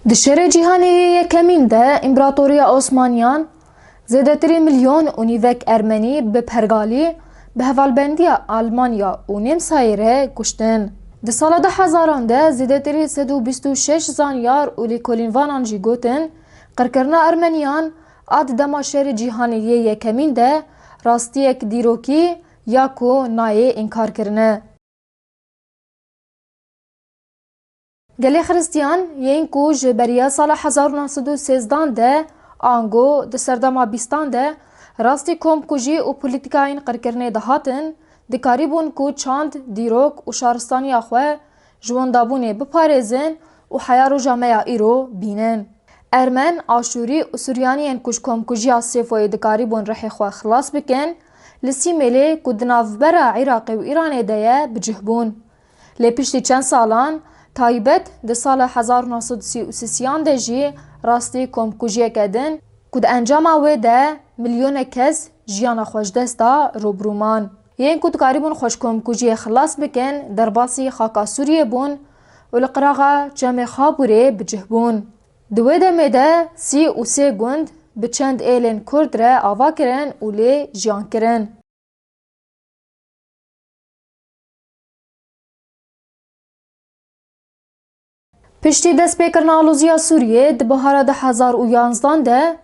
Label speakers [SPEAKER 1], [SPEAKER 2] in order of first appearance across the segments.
[SPEAKER 1] Di Şerê Cîhanê yê Yekemîn de Împaratoriya Osmaniyan zêdetirî milyon û nîvek Ermenî bi pergalî bi hevalbendiya Almanya û Nêmsayê re kuştin. Di sala du hezaran de zêdetirî sed û bîst û şeş zanyar û lêkolînvanan jî gotin, Qirkirina Ermeniyan a di dema Şerê Cîhanê yê Yekemîn de rastiyek dîrokî ya ku nayê înkarkirin e. Gelê Xiristiyan yên ku ji beriya sala hezar û neh sed û sêzdan de ango di serdema bîstan de rastî komkujî û polîtîkayên qirkirinê dihatin, dikarîbûn ku çand, dîrok û şaristaniya xwe ji wendabûnê biparêzin û heya roja me ya îro bînin. Ermen, Aşûrî û Suryaniyên ku ji komkujiya Sêfoyê dikarîbûn rihê xwe xilas bikin, li Sîmêlê ku di navbera Iraqê û Îranê de ye bicih bûn. Lê piştî çend salan, taybet di sala hezar û neh sed û sî û sisiyan de jî rastî komkujiyeke din ku di encama wê de milyonek kes jiyana xwe ji dest da rûbirû man. Yên ku dikarîbûn xwe ji komkujiyê xilas bikin derbasî xaka Sûriyê bûn û li qiraxa Çemê Xabûrê bicih bûn. Di wê demê de sî û sê gund bi çend êlên kurd re ava kirin û lê jiyan kirin. Piştî destpêkirina alozîya Sûriyê di bihara du hezar û yanzdan de,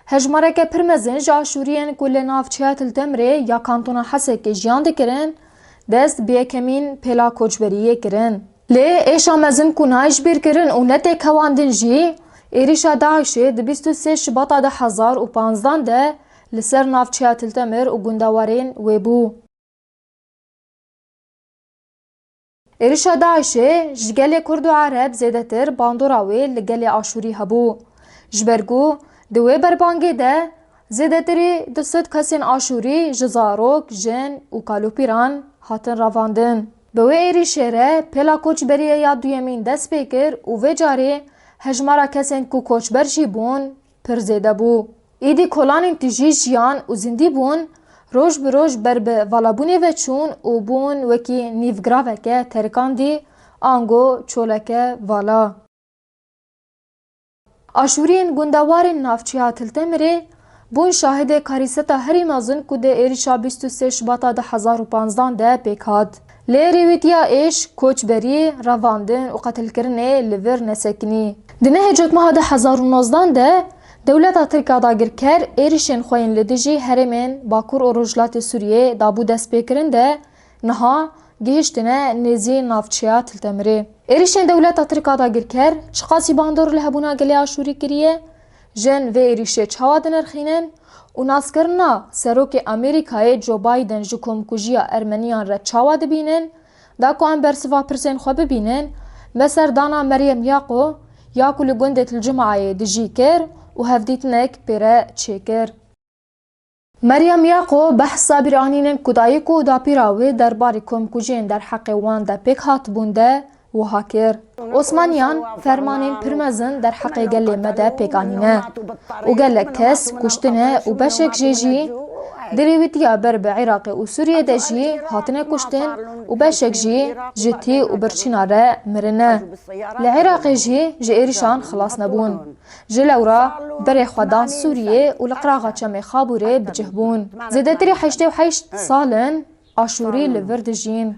[SPEAKER 1] hejmareke pir mezin ji Aşûriyên ku li navçeya Til Temrê ya kantona Hesekê jiyan dikirin, dest bi yekemîn pêla koçberiyê kirin. Lê êşa mezin ku nayê ji bîr kirin û ne tê kewandin jî, êrîşa DAIŞ'ê di bîst û sê Şibata du hezar û panzdan de li ser navçeya Tiltemir û gunda warên wê bû. Êrîşa DAIŞ'ê ji gelê Kurd û Ereb zêdetir bandora wê li gelê Aşûrî hebû. Ji ber ku di wê berbangê de zêdetirî du sed kesên Aşûrî ji zarok, jin û kalopîran hatin ravandin. Bi wê êrîşê re pêla koçberiyê ya duyemîn dest pê kir û vê carê hejmara kesên ku koçber jî bûn pir zêde bû. Êdî kolanên tijî jiyan û zindî bûn roj bi roj ber bi valabûnê ve çûn û bûn wekî nîvgiraveke terikandî, ango çoleke vala. Aşûriyên gundewarên navçeya Tiltemirê bûn şahidê karîseta herî mezin ku di êrîşa bîst û sê Şibata du hezar û panzdan de pêk hat. Lê rêwîtiya êş, koçberî, revandin û qetilkirinê li vir nesekinî. Di mehê Cotmeha du hezar û nozdan de dewleta Tirk a dagirker êrîşên xwe yên li dijî herêmên Bakur û Rojhilatê Sûriyê dabû destpêkirin de Niha gihiştine nêzî navçeya Tiltemirê. Êrişên dewleta Tirk a dagirker çiqasî bandor li hebûna gelê Aşûrî kiriye? Jin vê êrişê çawa dinirxînin? Û naskirina Serokê Amerîkayê Joe Biden ji komkujiya ermeniyan re çawa dibînin? Da ku em bersiva pirsên xwe bibînin, me serdana Meryem Yaqo ya ku li gundê Tilcimaayê dijî kir û hevdîtinek pê re çêkir. Meryem Yaqo behsa bîranînên ku dayik û dapîra wê derbarê komkujiyên derheqê wan de pêk hatibûn de wiha kir, Osmaniyan fermanên pir mezin derheqê gelê me de pêk anîne û gelek kes kuştine û beşek jê jî di rêwîtiya ber bi Iraqê û Sûriyê de jî hatine kuştin û beşek jî ji tî û birçîna re mirine. Li Iraqê jî ji êrişan xilas nebûn. Ji lewra berê xwe dan Sûriyê û li qiraxa Çemê Xabûrê bi cih bûn. Zêdetirî heştê û heşt sal in Aşûrî li vir dijîn.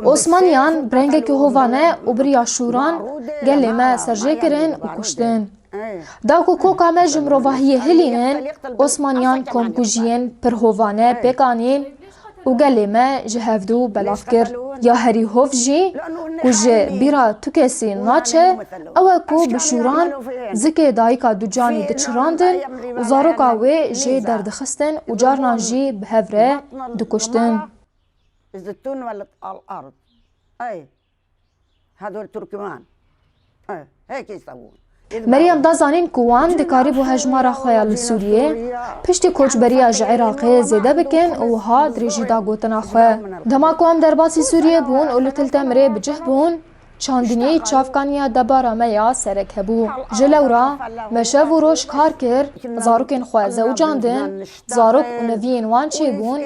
[SPEAKER 1] Osmaniyan bi rengekî hovane û biriya şûran gelê me serjê kirin û kuştin. Da ku koka me ji mirovahiyê hilînin, Osmaniyan komkujiyên pir hovane pêk anîn, Û gelê me ji hevdu belav kir. Ya herî hov jî ku ji bîra tu kesî naçe ew e ku bi şûran zikê dayika Ducanî diçirandin û zaroka wê jê derdixistin û carnan jî bi hev re dikuştin. Hedol Turkmen hekî sebûn. Meryem da zanîn ku wan dikarîbû hejmara xwe ya li Sûriyê piştî koçberiya ji Iraqê zêde bikin û wiha dirêjî da gotina xwe, Dema ku em derbasî Sûriyê bûn û li Til Temirê bi cih bûn, çandinî çavkaniya debara me ya serek hebû. Ji lewra me şev û roj kar kir, zarokên xwe zewicandin, Zarok û neviyên wan çê bûn.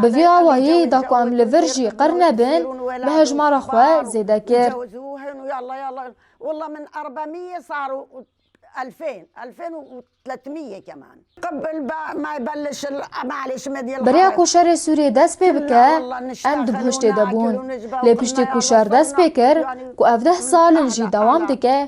[SPEAKER 1] Bi vî awayî da ku em li vir jî qir nebin, me hejmara xwe zêde kir.
[SPEAKER 2] Beriya ku şerê Sûriyê
[SPEAKER 1] dest pê bike, em di goştê de bûn. Lê piştî ku şer dest pê kir, ku ev deh sal in jî dewam dike,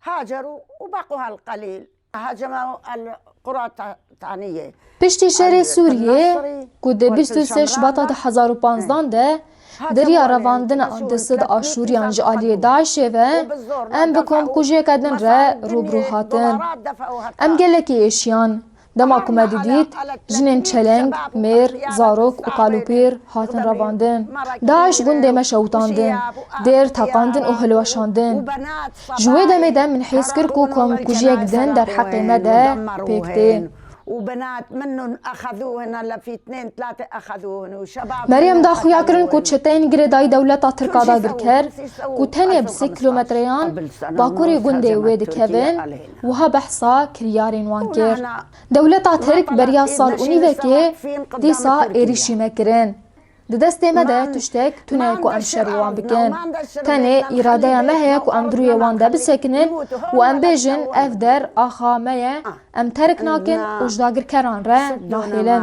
[SPEAKER 2] Hacer û Beqûh el-Qelîl, Haceme û el-Quratanîyê, Piştî şerê
[SPEAKER 1] Sûrîyê ku di bîst û sê Şibata du hezar û panzdan de derîya revandina di sid Aşûrîyan ji alîyê DAIŞ'ê ve em bi komkujiyeke din re rûbirû hatin. Em gelekî êşîyan. Dema ku me didît jinên çeleng, mêr, zarok û kalûpîr hatin revandin, DAIŞ gundê me şewitandin, dêr teqandin û hilweşandin. Ji wê demê de min hîs kir ku komkujiyek din derheqê me de pêk tê.
[SPEAKER 2] Meryem da xuyakirin
[SPEAKER 1] ku çeteyên girêdayî dewleta Tirk a dagirker ku tenê bi sê kîlometreyan bakurê gundê wê dikevin, Wiha behsa kiryarên wan kir, Dewleta Tirk beriya sal û nîvekê dîsa êrîşî me kirin. Di destê me de tiştek tune ku em şer bi wan bikin. Tenê îradeya me heye ku em di rûyê wan de bisekinin û em bêjin ev der axa me ye, em terk nakin û ji dagirkeran re nahêlin.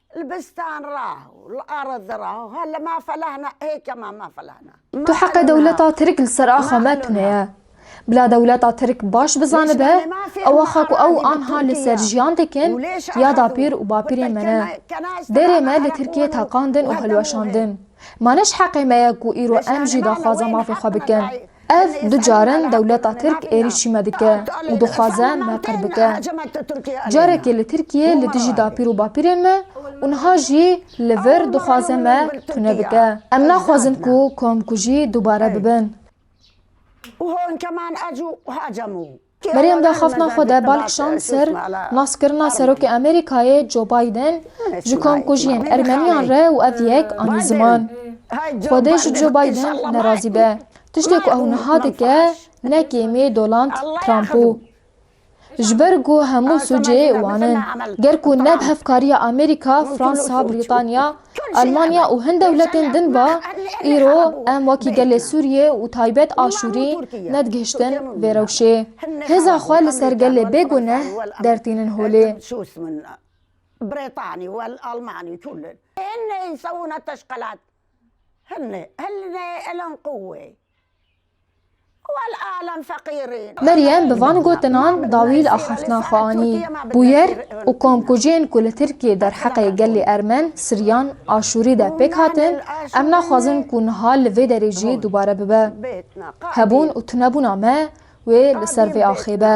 [SPEAKER 2] Li bistan ra û li arad ra ha li ma felahna hê kema ma felahna. Tu heqê dewleta
[SPEAKER 1] Tirk li ser axa me tune ye. Bila dewleta Tirk baş bizanibe ew axa ku ew anha li ser jiyan dikin ya dapîr û bapîrên me ne. Derê me li Tirkiyê teqandin û hilweşandin. Ma ne ji heqê me ye ku îro em jî daxwaza mafê xwe bikin. Ev du car in dewleta Tirk êrîşî me dike û dixwaze me qir bike. Carekê li Tirkiyê li dijî dapîr û bapîrên me û niha jî li vir dixwaze me tune bike. Em naxwazin ku komkujî dubare bibin.
[SPEAKER 2] Meryem daxaftina
[SPEAKER 1] xwe de bal kişand ser naskirina Serokê Amerîkayê Joe Biden ji komkujiyên Ermeniyan re û ev yek anî ziman. Xwedê ji Joe Biden nerazî be. Tiştê ku ew niha dike ne kêmê Doland Trump bû. Ji ber ku hemû sûcê wan in. Ger ku neb hevkariya Amerîka, Fransa, Brîtanya, Almanya û hin dewletên din ve îro em wekî gelê Sûriyê û taybet Aşûrî nedigihiştin vê rewşê. Hêza xwe li ser gelê bê guneh dertînin holê.
[SPEAKER 2] Meryem bi van
[SPEAKER 1] gotinan dawîl a xeftina xwe anî, Bûyer û komkujiyên ku li Tirkiyê derheqê gelê Ermen, Siryan, Aşûrî de pêk hatin, em naxwazin ku niha li vê derê jî dubare bibe. Hebûn û tunebûna me wê li ser vê axê be.